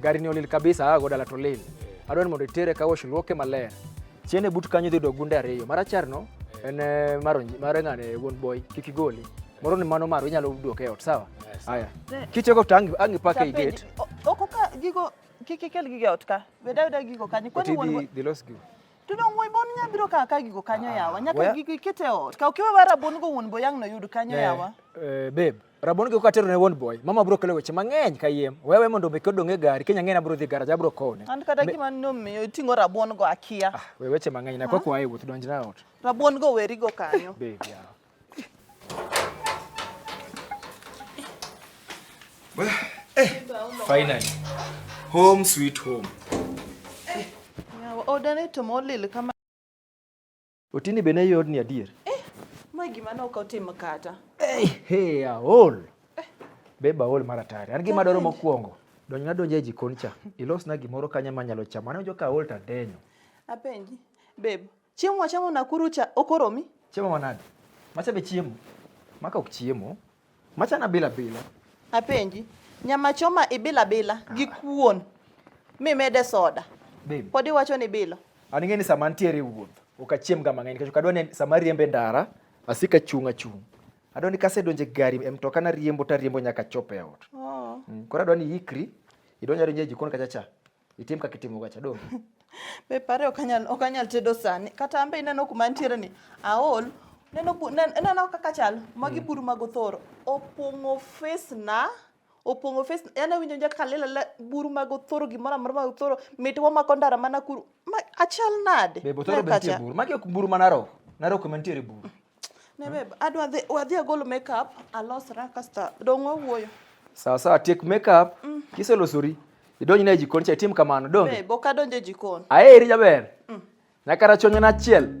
Gari ni olil kabisa aa goda to olil. Adwani mondo itere ka wash luoke maler. Chiene but kanyo dhi do gunde ariyo. Marachar no en eh, maronji mare ng'ane wuon boy kik igoli. Moro ni mano maro inyalo duoke e ot sawa. Haya. Kichego to angi angi pake i gate. Oko ka gigo kik ikel gige ot ka. Beda beda gigo kanyo. Kwani wuon boy. Dhi los gigo. Tudo wuon boy nya biro ka ka gigo kanyo yawa. Nyaka Waya- gigo ikete e ot. Ka ukiwe bara bon go wuon boy ang' no yud kanyo yawa. Eh, babe. Rabon gi katero ne won boy. Mama bro kelo weche mang'eny kayiem. Wewe mondo be kodong e gari kenya ng'ena bro dhi garaj abro kone. An kata gima no me tingo rabon go akia. Ah, we weche mang'eny na kwa kwa ayi wuth donj na ot. Rabon go weri go kanyo. Baby. Eh, finally. Home sweet home. Eh, ya odane to molil kama Otini be ne yodni adier. Eh, ma gima ne ok otimo kata. Hey, eh, hey, aol. Eh. Beba aol mar atari. An gima dwaro mokwongo. Donj na donje e jikon cha. Ilosna gimoro kanya ma nyalo chamo. Anawinjo ka aol ta denyo. Apenji. Babe, chiemo wachamo Nakuru cha okoromi? Chiemo manade? Macha be chiemo. Maka ok chiemo. Machana bila bila. Apenji, nyama choma ibila bila gi kuon mimede soda. Babe. Pod iwacho ni bilo. An ing'e ni sama antiere e wuoth ok achiemga mang'eny nikech ok adwa ni sama ariembo e ndara asik achung' achung'. Adwa ni kasedonjo e gari e mtoka nariembo tariembo nyaka achop e ot. Oh. Mm, Koro adwa ni iikri idonj adonja e jikon kacha cha Itim kaka itimo gacha dong. Be pare ok anyal ok anyal tedo sani. Kata ambe ineno kuma nitiere ni aol neno bu- nen- ineno kaka chal magi buru mag othoro opong'o face na opong'o face yani awinjo nja kaka lela la buru mag othoro gimoro amora mag othoro mit wamako ndara mana kuru ma achal nade? Be botoro Ler be nitie kacha. buru. Magi ok buru ma narok. Narok ema nitiere buru. Ne babe, adwa dhi wadhi agol makeup alosra kasta dong' wawuoyo. Sawa sawa, tiek makeup mm. kiselosori idonj na e jikon cha itim kamano dong. Babe, ok adonj e jikon. Aeri jaber. Mm. Nyaka rachonyo na achiel.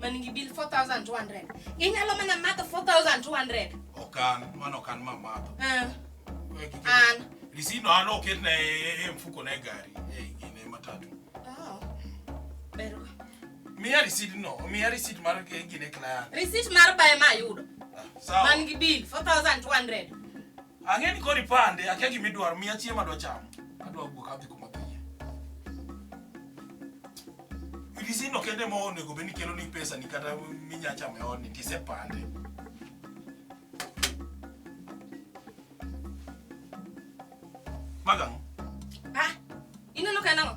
man gi bill 4200 inyalo mana madho 4200 okan mano okan ma madho Eh, We kike- an risino an oket na e e mfuko na e gari e gine matatu Oh. Ber we. miya risit no miya risit mar e gine client receipt mar bae ma ayudo Ah, sawa man gi bill 4200 Ang'e ni koro ipande, akia gima idwaro, miya chiemo adwa chamo. Adwa wuok adhi kuma piye. Midisino kende ma onego bed ni kelo ni pesa ni kata minya chamo e odni tisepande. Magang'. Ah, ineno ka en ang'o?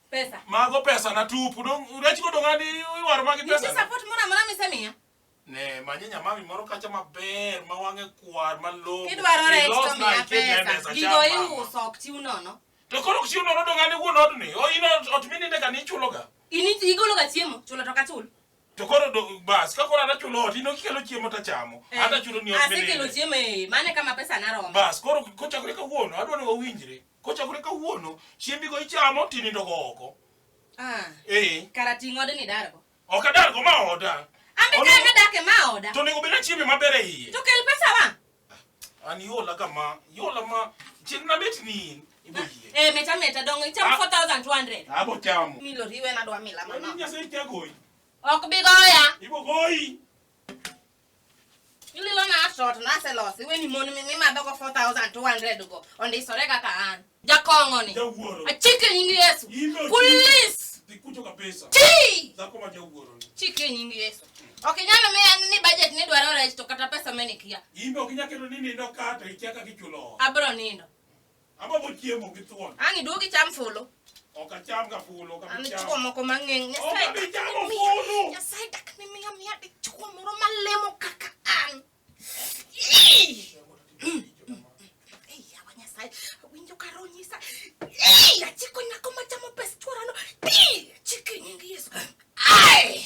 Pesa. Mago pesa na tupu. Dong rech go dongani iwaro magi pesa. Nitie support mora mora misemiya. Ne, manye nyamami moro kacha maber ma wang'e kwar ma lobo. Kidwaro rech to miya pesa. Gigo iuso ok chiw nono. To koro ok chiw nono dongani wuon odni. O in ot mininde ka ni chuloga. Ini igologa chiemo, chulo to kachul. To koro do bas ka koro anachulo ot ino kikelo chiemo to chamo. Eh, Ata chulo ni ot mininde. Asekelo chiemo eh, mane kama pesa naromo. Bas koro kochakore kawuono adwa ni wawinjre. Kochakore kawuono, chiembigo ichamo tinindogo oko. Ah. Eh. Kara ting' odni dargo. Ok adargo ma oda. Ambe ka ne dak e ma oda. To nego bena chiemi maber e iye. To kel pesa wa. An yola kama, yola ma chieng' na bet ni ibo ah, yie. Eh meta meta dongo icham 4200. Ah. Abo chamo. Mi lori we na dwa mila mama. Ni nyase ichagoyi. Ok bi goya. Ibo goyi. ililo na asot na selos iwe ni mon mi ma dogo 4200 go onde isore kaka an jakongo ni Jawuoro. achike nying yesu Ino ti- police Dhi kucho kabisa. ti Dhako ma jawuoro ni. chike nying yesu ok inyalo miya ni budget ni dwaro rech to kata pesa menikia Imbe ok inyal keto ni nindo ka to ikia kaka ichulo ot. abro nindo Agombo chiemo gi thuon. Ang' iduog icham fulu. Ok acham ga fulu, ok An abi chamo. dichwo moko mang'eng. Ok Nyasaye abi dak chamo ni miya- fulu. Nyasaye dak ni miya miya dichwo moro malemo kaka an. Ii! Ei, yawa Nyasaye, awinjo ka roho nyisa. Ii! Achiko nyako machamo pes chworano. Ii! Achiko e nying Yesu. Ai!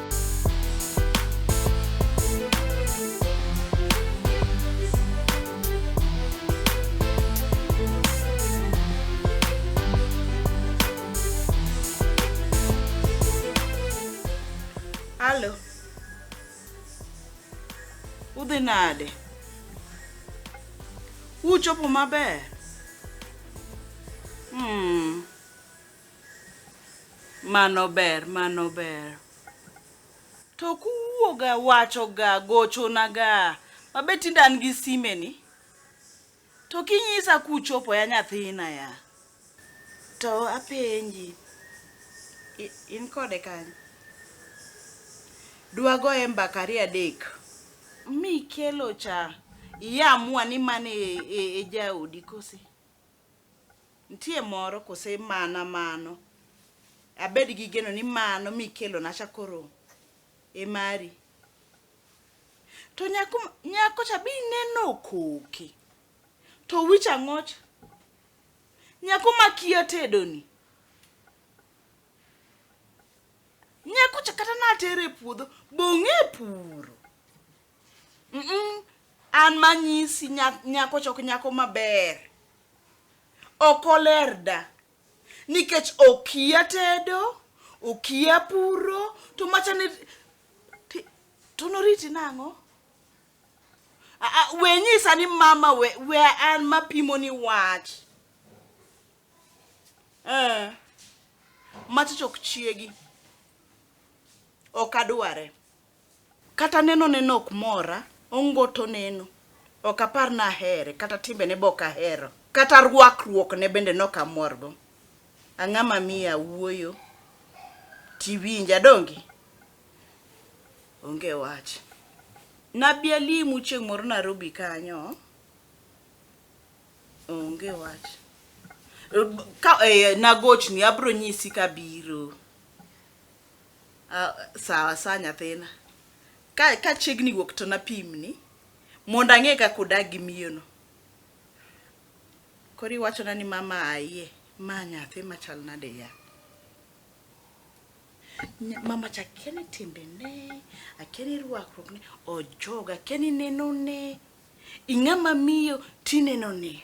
Alo. Udhi nade? Uchopo maber? Hmm. Mano ber, mano ber. To kuwuoga, wachoga, gochonaga, ma be tinde an gi simeni, to kinyisa kuchopo ya nyathina ya. To apenji, in kode kanyo? Dwagoye mbaka ariyo adek. Mikelo cha, iamua ni mano e jaodi kose? Nitie moro kose mana mano? Abed gi geno ni mano mikelona cha koro e mari. To nyako nyako cha be ineno okoke. To wich ang'ocha? Nyako makia tedoni. Nyako cha kata natere e puodho, bong'e e puro. Mm-mm. an manyisi nya- nyako chok nyako maber ok oler da nikech okia tedo okia puro to machane ti- to noriti nang'o A- a- we nyisa ni mama we, we an mapimo ni wach eh. macha chok chiegi ok adware Kata nenone ne ok mora, ongoto neno. Ok apar ni ahere, kata timbene be ok ahero. Kata rwakruokne bende ne ok amorgo. Ang'a ma miyo awuoyo tiwinja, donge? Onge wach. Nabi alimu chieng' moro Nairobi kanyo, onge wach. Ka, eh, nagochni, abiro nyisi kabiro. Ah, sawa sawa nyathina. Ka ka chiegni wuok to napimni mondo ang'e kaka odag gi miyono. Koro iwachona ni mama ayie. Ma nyathi machal nade ya? Nya- Mama cha akia ni timbene, akia ni rwakruokne, ojoga, akia ni nenone. Ing'ama miyo tinenone.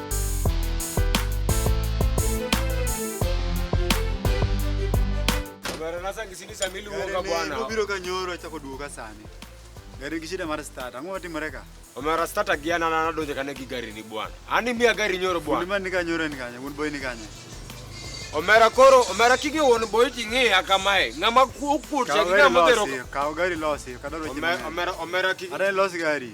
Barasa kisini samili uoga bwana. Ubiro kanyoro chako duoga sani. Gari gishida mara start. Ango wati mareka. Omara start agiana na na donje kane gigari ni bwana. Ani mia gari nyoro bwana. Ndima nika nyoro ni kanya, un boy ni kanya. Omera koro, omera kige won boy tingi akamae. Ngama kukur cha kige motero. Kawo gari losi, kadaro chimene. Omera omera kige. Are losi gari.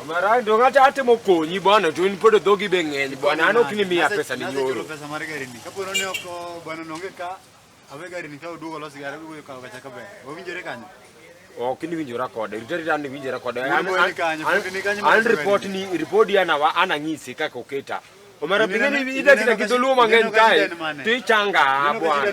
Omera ndio ngata ate mokonyi bwana to in pod dhogi be ng'eny bwana an ok ni miya pesa ni nyoro. Pesa mar gari ni. Kapo ni ok bwana nonge ka awe gari ni ka oduogo los gari go ka kacha ka be. Owinjore kanyo. Ok ni winjora kode. Rita rita ni winjora kode. An report ni report ya na wa ana ng'isi kaka oketa. Omera binge ni ida kita kidoluo mang'eny kae. Tichanga bwana.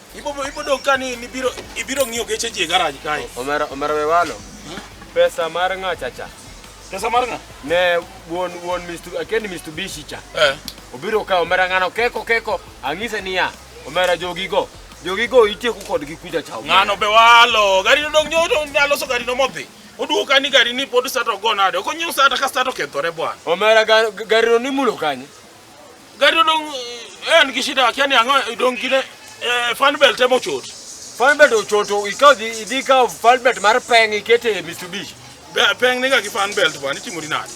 Ibobo ibodo kani ni biro ibiro ng'iyo geche ji e garaj kae. Omera omera we walo. Pesa mar ng'a chacha. Pesa mar ng'a? Ne wuon wuon Mr. Akendi Mr. Bishi cha. Eh. Obiro ka omera ng'ano keko keko ang'ise niya omera jogigo. Jogigo itieko kodgi kuja cha. Ng'ano be walo. Gari dong nyodo nyaloso gari no modhi. Oduogo kani gari ni pod sata ogo nade. Okonyo sata ka sata okethore bwana. Omera gar- garino ni mulo kanye. Gari odong eh, en gi shida akia ni ang'o idong gine eh, fan belt ema ochot. Fan belt ochoto ikaw dhi idhi kaw fan belt mar peng ikete e Mitsubishi. Be- Peng niga gi fan belt bwana itimori nade?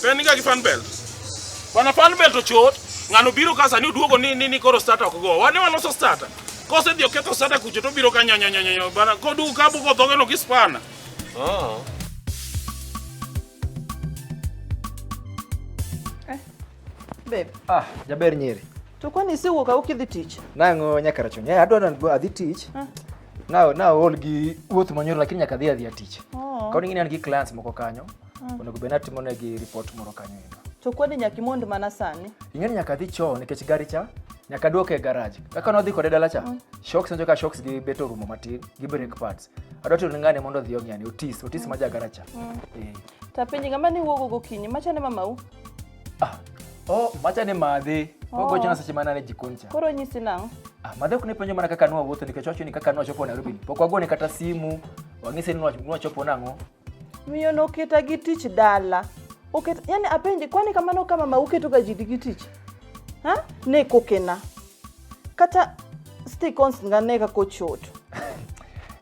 Peng niga gi fan belt. Bwana fan belt ochot ng'ano biro ka sani oduogo ni ni, ni koro starter ok go. Wane waloso starter. Kose dhi oketho starter kucho to biro ka nyanya nyanya nyanya bwana kodu kabu kodhogeno gi spanner. Oh. Eh, babe. Ah, jaber nyeri. To kwani si wuok awuok idhi tich? Nang'o nyaka rachon. Yeah, adwa nan adhi tich. Ah. Na na ol gi wuoth manyoro lakini nyaka adhi adhi tich. Oh. Kauni ngine an gi clients moko kanyo. Ah. Onego bena timo ne gi report moro kanyo ino. To kwani nyaka imond mana sani? Ing'eni nyaka adhi choo nikech gari cha nyaka duoke e garage. Kaka nodhi kode dala cha. Ah. Shocks njo ka shocks gi beto rumo matin gi brake pads. adwati oneng'ane mondo odhi ong'yani otis otis ma jagaracha mm. eh. to apenji ng'ama ni wuogo gokinyi macha ne mamau ah. oh, macha ne madhe oh. ogochona seche mana ne jikon cha koro nyisi nang'o ah, madhe ok ne penjo mana kaka nwa wuotho nikech wacho ni kaka nwa chopo nairobi pok wagone kata simu wang'ise ni nwa chopo nang'o Miyo no keta gi tich dala. Oketa, yani apenje, kwani kamano kama ma uketo ga jidi gi tich? Ha? Ne kokena. Kata sti konst nga ne kako choto.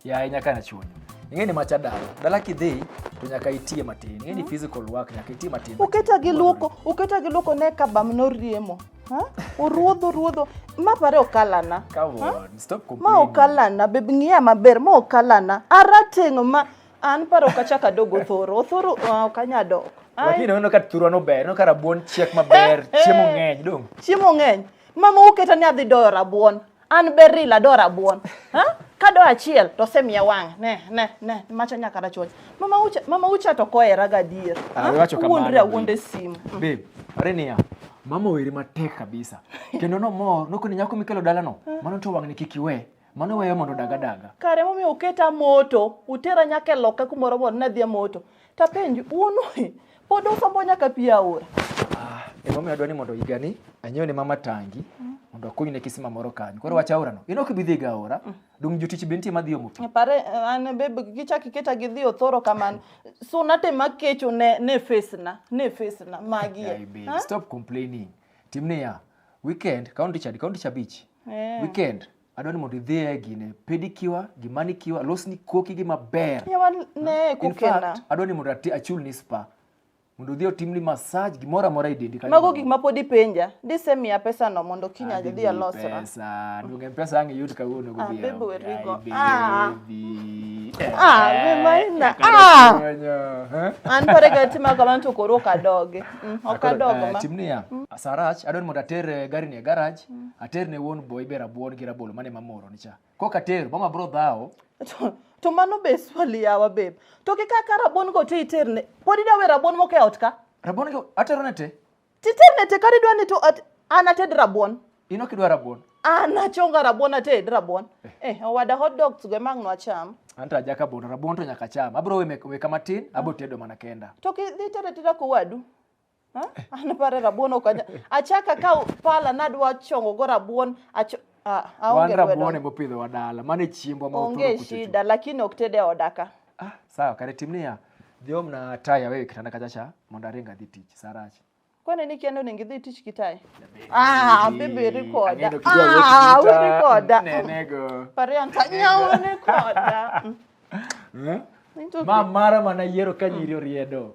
ya e nyaka na chunyo. Ing'e ni macha dala. Dala kidhi to nyaka itie matin. Ing'e ni physical work nyaka itie matin. Uketa gi luoko, uketa gi luoko ne kabam no riemo. Ha? Uruodho, uruodho. Ma pare okalana. Come on, stop complaining. Ma okalana, bebe ng'iya maber, ma okalana. Arateng' ma An paro ok achak adog othoro. Othoro ah, ok anyal dok. Ai, Lakini uneno ka thurwa no ber, uneno ka rabuon chiek maber, chiemo ng'eny dong. chiemo ng'eny. Mama uketa ni adhi doyo rabuon. An beril ado rabuon. Ha? Ka do achiel to osemiya wang'. Ne, ne, ne. Macha nyaka rachuoch. Mama ucha, mama ucha to kohera gadier. Ah, Ha? iwacho kamano, Wuondri babe. awuonde simu. Babe, are niya, mama weri matek kabisa. Kendo nomor, nokoni nyako mikelo dalano, mano to wang'ni kik iwe. Mano weyo mondo odag adaga. Kare momiyo uketa moto, utera nyaka e loka kumoro mondo nadhi e moto. Tapenji, un pod usombo nyaka pi aora. Ah, emomiyo adwa ni mondo higani anyiewne mama tangi mondo akunyne kisima moro kanyo. Koro wach aorano, in ok ibi dhi ga aora, dong' jotich be nitie madhi omo pi. Pare an be gichak iketa gidhi othoro kamano. Suna te makecho ne ne face na, ne face na magi. Yaye babe, Stop complaining. Tim niya, weekend, kaunti chadi, kaunti chabich. Yeah. Weekend adwa ni mondo idhi e gine pedikiwa gi manikiwa losni koki gi maber. Yawa ne hmm? In kukena. fact, adwa ni mondo ati achul ni spa. Mondo odhi otimni massage gimoro amora e dendi kanyo. Mago gik ma pod ipenja. Dise miya pesa no mondo kiny Adi adhi alosra. Pesa, duonge pesa ang' iyud kawuono Ah, godhiambo. babe, we're Ai, go- ah. baby. Ah, Eh, be maina. kaka Ah! konyo, eh? An pare ga tima kamano to koro ok adogi. Mm, Ok Akoro, adogo eh, ma. Tim niya, Sarach, adwa ni mondo ater eh, gari ni e garaj. mm. ater ne wuon boy be rabuon gi rabolo mane mamoro ni cha kok ater mama bro dhawo to mano be swali yawa bebe to ki kaka rabuon go te iter ne pod ida we rabuon moko e ot ka rabuon go atero ne te titer ne te kari dwa ni to an ated rabuon in ok idwa rabuon an achonga rabuon ated rabuon eh, eh owada hot dogs go emang nwacham anta ajaka bono rabuon to nyaka cham abro we, we kama tin abo tedo mana kenda to ki dhi tere tera kowadu Ha? An pare rabuon ok anya. Achaka ka pala nadwa chongo go rabuon acho ah, aonge Wan lwedo. rabuon ema opidhowa dala, mano e chiembwa ma Onge oturo kuchocho. shida lakini ok tede odaka. Ah, sawa, kare tim niya, dhi omna taya wewe kitanda kachacha mondo aring adhi tich, saa rach. Kwani ni kendo onego idhi tich kitaye? Ah, bibi rikoda. Ang'edo kijua wuoch Ah, vita, uri koda. Nenego. Pare anta nyawo ni koda. Mm. Eh? Into- Ma mara mana yiero ka nyiri oriedo.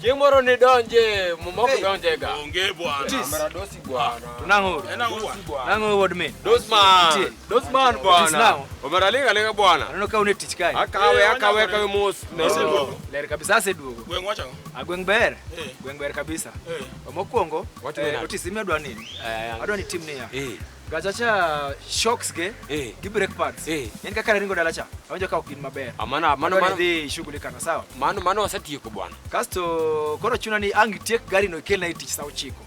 Chieng' moro ni donje mumok donje ga. Onge bwana. Kamera dosi bwana. Tunang'o. Nang'o wod me. Dosman. Dosman bwana. Omera linga linga bwana. Aneno ka une tich kae. Akawe akawe kawe mos. Ler kabisa ase duogo. Gweng' wacho. Agweng' ber. Eh. Gweng' ber kabisa. Eh. Mokwongo eh, otisi mi adwa nini? Adwa ni tim niya. gachacha shocks ge eh. gi brake pads eh. en kaka naringo dala cha awinjo ka ok in maber amana amana mano dhi shughuli kana sawa mano mano wasetieko bwana kasto koro chuna ni ang tiek gari no kelna tich saa ochiko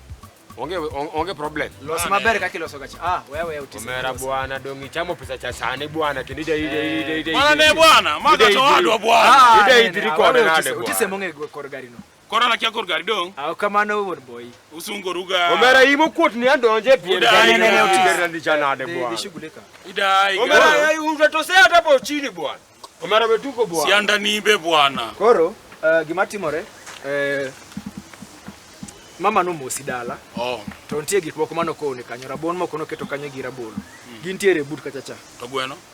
onge onge problem los maber kaka iloso gacha ah wewe utisi mera bwana dongi chamo pesa cha sane bwana kindi dai dai dai dai bwana ne bwana maga to adwa bwana dai dai riko na nade bwana utisi monge kor gari no Koro an akia kor gari dong'. Aw kamano wuod boy. Usungoruga. Omera in mokuot ni adonje pien. Udai, Nene, nene, otis. Omera ni janade Dhi- bwana. Dhishughulika. Idai. Omera gari. ai unja to sea hata po chini bwana. Omera betuko bwana. Sianda nimbe bwana. Koro eh, gima timore eh, mama nomosi dala Oh, to nitie gik moko mane okone kanyo rabuon moko noketo kanyo gi rabolo gintiere e but kachacha to gweno.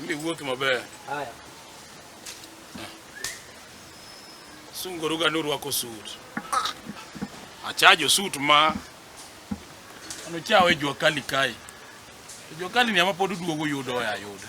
Mimi wuoki maber. Haya. Sunguru ga norwako sut. Achajo sut ma anochawe jua kali kai. Jua kali ni ama pod duogo yudo ya yudo.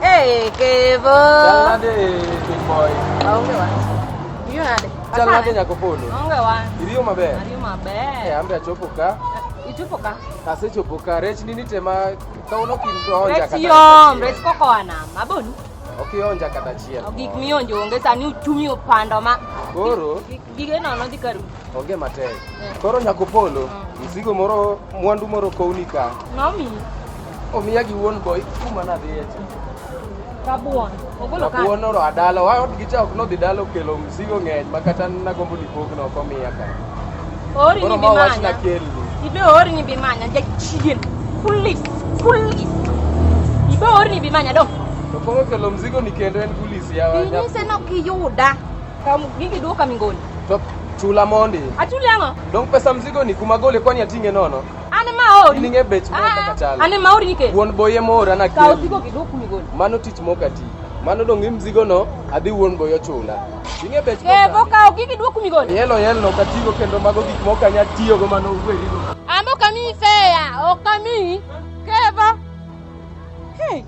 Hey, Kevo. Salade, big boy. Aonge wapi? Hiyo hadi. Salade nyako polo. Aonge wapi? Iliyo maber. Iliyo maber. Eh, ambe achopo ka. Ichopo ka. Kase chopo ka. Rech nini tema ka uno kindoja kata. Rech yom, rech koko ana. Maboni. Okionja kata chiel. Gik mionjo onge sani uchumi opando ma. Koro. Gige nono dhi karu. Onge matek. Koro nyakopolo, mm. mzigo moro mwandu moro kowni ka. Nomi. Omiya gi wuon boy kuma nadhiye cha. Kabuon. Ogolo ka. Kabuon oro adala. Wa od gicha ok nodhi dala okelo mzigo ng'eny ma kata nagombo ni pogno ok omiya ka. Ori ni bimanya. Ibe ori ni bimanya jachien. Kulis. Kulis. Ibe ori ni bimanya dong. To koro kelo mzigo ni kendo en kulis yawa. Inyise no kiyuda. Kamu gingi duo kamingoni. Top chula mondi. Achuli ang'o? Dong pesa mzigo ni kuma gole kwani atinge nono. Ane maori. Ninge bech mo kaka chala. Ane maori nike. Wuon boye mora na kiri. Kawo zigo kiduo kumigoni. Mano tich moka ti. Mano dong im zigo no adhi wuon boyo chula. Ninge bech mo. Eh boka ogi kiduo kumigoni. Yelo yelo no katigo kendo mago gik moka nya tiyo go mano uwe rigo. Ambo kami feya okami. Kevo. Hey.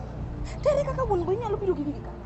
Tere kaka wuon boye nyalo biro gi gika.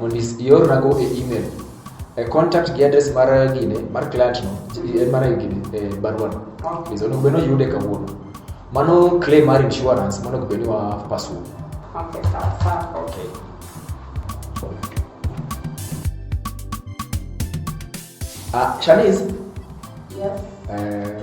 mondo iornago e email e contact gi address mar gine mar client no e mar gine e barua no please onego bed ni oyude kawuono mano claim mar insurance monego bed ni wa pasu Okay, sawa sawa. okay ah shaniz Yes. eh,